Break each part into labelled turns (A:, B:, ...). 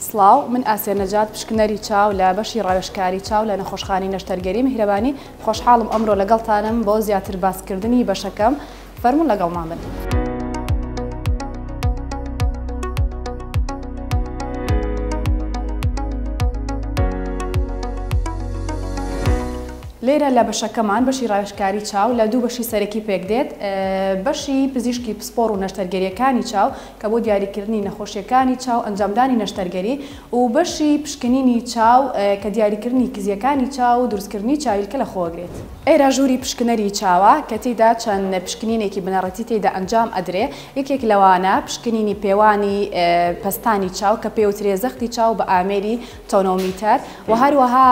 A: سڵاو من ئاسیا نەجات پشکنەری چاو لە بەشی ڕاوێژکاری چاو لە نەخۆشخانەی نەشتەرگەری میهرەبانی خۆشحاڵم ئەمرۆ لەگەڵتانم بۆ زیاتر باسکردنی بەشەکەم فەرموون لەگەڵمان بن. لێرە لە بەشەکەمان بەشی ڕاوێژکاری چاو لە دوو بەشی سەرەکی پێکدێت بەشی پزیشکی پسپۆڕ و نەشتەرگەریەکانی چاو کە بۆ دیاریکردنی نەخۆشیەکانی چاو ئەنجامدانی نەشتەرگەری و بەشی پشکنینی چاو کە دیاریکردنی کزیەکانی چاو و دروستکردنی چاویلکە لەخۆگرێت. ئێرە ژووری پشکنەری چاوە کە تیدا چەند پشکنینێکی بنەڕەتی تیدا ئەنجام ئەدرێ یەکێک لەوانە پشکنینی پێوانی پەستانی چاو کە پێوترێ زەختی چاو بە ئامێری تۆنۆمیتەر و هەروەها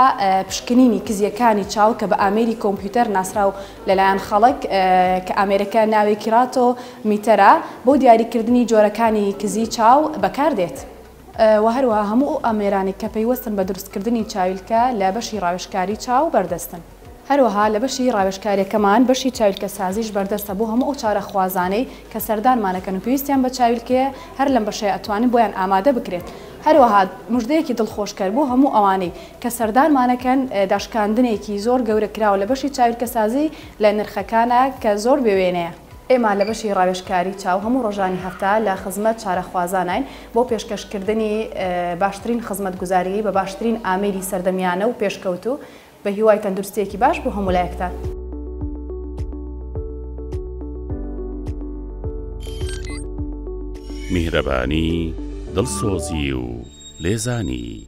A: پشکنینی کزیەکانی چاو کە بە ئامێری کۆمپیوتەر ناسراو لەلایەن خەڵک کە ئامێرەکە ناوی کیراتۆ میتەرا بۆ دیاریکردنی جۆرەکانی کزی چاو بەکاردێت و هەروەها هەموو ئەو ئامێرانەی کە پەیوەستن بە دروستکردنی چاویلکە لە بەشی ڕاوێژکاری چاو بەردەستن. هەروەها لە بەشی ڕاوێژکارییەکەمان بەشی چاویلکەسازیش بەردەستە بۆ هەموو ئەو چارەخوازانەی کە سەردانمانەکەن و پێویستیان بە چاویلکەیە هەر لەم بەشەیە ئەتوانین بۆیان ئامادە بکرێت. هەروەها مژدەیەکی دڵخۆشکەر بۆ هەموو ئەوانەی کە سەردانمانەکەن داشکاندنێکی زۆر گەورە کراوە لە بەشی چاویلکەسازی لە نرخەکانا کە زۆر بێوێنەیە. ئێمە لە بەشی ڕاوێژکاری چاو هەموو ڕۆژانی هەفتە لە خزمەت چارەخوازاناین بۆ پێشکەشکردنی باشترین خزمەتگوزاریی بە باشترین ئامێری سەردەمیانە و پێشکەوتوو، بەهیوای تەندروستییەکی باش بۆ هەموو لایەکتان.
B: میهرەبانی، دڵسۆزی و لێزانی.